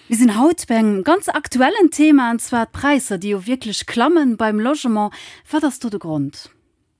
Mir sinn haut bei engem ganz aktuellen Thema, an zwar d'Präisser, déi jo wierklech klammen beim Logement. Wat ass do de Grond?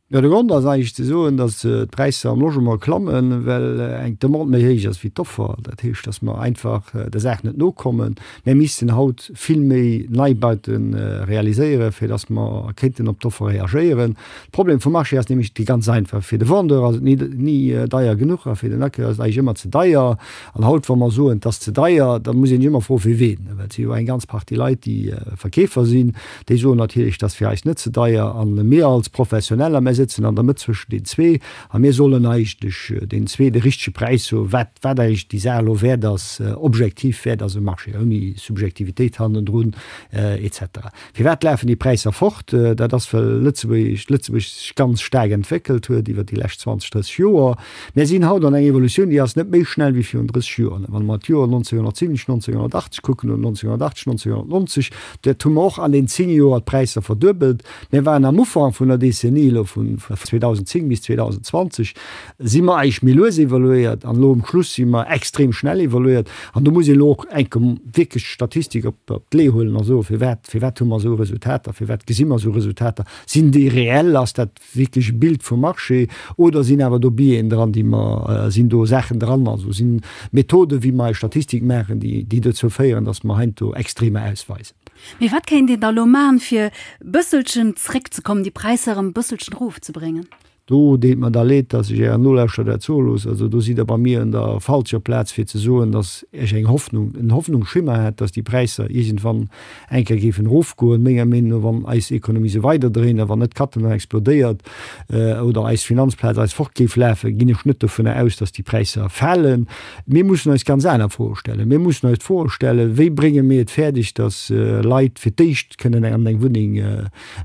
Jo, de Grond ass eigentlech ze soen, dass d'Präisser am Logement klammen, well eng Demande méi héich ass wéi d'Offer. Dat heescht, dass mer einfach der Saach net nokommen. Mir missten haut vill méi Neibaute realiséieren, fir dass mer kéinten op d'Offer reagéieren. De Problem vum Marché ass nämlech dee ganz einfache, Fir de Vendeur ass et ni deier genuch a fir den Acquéreur ass et eigentlech ëmmer ze deier. An haut, wa mer soen, et ass ze deier, da muss ee sech ëmmer froen, fir ween. Well et si jo eng ganz Partie Leit, déi Verkeefer sinn, déi soen natierlech, et ass fir eis net ze deier. A mir als Professioneller, mir sëtzen an der Mëtt zwëschen den zwee a mir sollen eigentlech deenen zwee de richtege Präis soen, wat eigentlech déi Saach elo wäert ass, objektiv wäert ass um Marché, ouni Subjektivitéit hannendrun etc. Firwat lafen déi Präisser fort? Dat ass, well Lëtzebuerg sech ganz staark entwéckelt huet iwwer déi lescht 20, 30 Joer. Mir sinn haut an eng Evolutioun, déi ass net méi schnell wéi virun 30 Joer. Wa mer d'Joer 1970, 1980 kucken, oder 1980, 1990, dat hu mer och an deenen zéng Joer d'Präisser verduebelt. Mir waren am Ufank vun der Decennie elo, vu 2010 bis 2020, si mer eigentlech méi lues evoluéiert, an elo um Schluss si mer extrem schnell evoluéiert. An do muss een elo och enke wierklech d'Statistik op d'Lee huelen a soen, Firwat, firwat hu mer esou Resultater? Firwat gesi mer esou Resultater? Sinn déi reell? Ass dat wierkleche Bild vum Marché oder sinn awer do Biaisen dran, déi mer, sinn do Saachen dran, also si Methoden, wéi mer eis Statistik maachen, déi dozou féieren, datt mer heiansdo Extremer ausweisen. Mee wat kéint een da elo maachen, fir e bësselchen zréckzekommen, déi Präisser erëm e bësselchen erofzebréngen? Do deet mer da Leed, datt ech Ären Nolauschterer dat soe loossen. Also do sidd Der bei mir un der falscher Plaz, fir ze soen, datt ech eng Hoffnung, en Hoffnungsschimmer hätt, datt déi Präisser iergendwann eng Kéier géifen erofgoen, menger Meenung no, wann eis Ekonomie esou weiderdréint a wann net Cattenom explodéiert oder eis Finanzplaz eis fort géif lafen, ginn ech net dovunner aus, dass déi Präisser falen. Mir mussen eis ganz aner Froe stellen. Mir mussen eis d'Froe stellen, Wéi brénge mir et fäerdeg, dass Leit fir d'éischt kënnen an eng Wunneng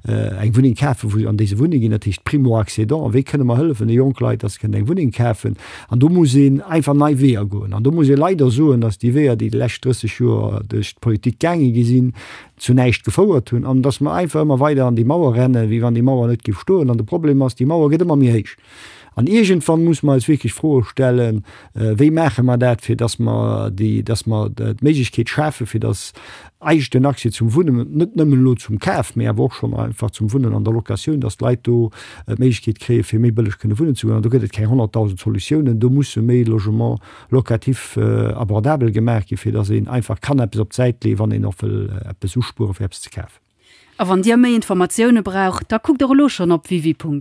eng Wunneng kafen, wou se an déi se wunne ginn, dat heescht Primo-Accédant. Wéi kënne mer hëllefen de jonk Leit, datt se kënnen eng Wunneng kafen? An do muss een einfach nei Weeër goen. An do muss ee leider soen, datt déi Weeër, déi déi lescht 30 Joer duerch d'Politik gaange gi sinn, zu näischt gefouert hunn an datt mer einfach ëmmer weider an déi Mauer renne wéi wann déi Mauer net géif stoen. An de Problem ass, déi Mauer gëtt ëmmer méi héich. An iergendwann muss mer eis wierklech Froe stellen, Wéi maache mer dat, fir dass mer déi, dass mer d'Méiglechkeet schafen, fir dass eis den Accès zum Wunnen, net nëmmen elo zum Kaf, mee awer och schonn einfach zum Wunnen an der Locatioun, dass d'Leit do d'Méiglechkeet kréien, fir méi bëlleg kënne wunnen ze goen? An do gëtt et keng honnertdausend Solutiounen. Do musse méi Logement locatif abordabel gemaach ginn, fir dass een einfach kann eppes op d'Säit leeën, wann een och wëll eppes uspueren, fir eppes ze kafen. A wann Dir méi Informatioune braucht, da kuckt och elo schonn op www.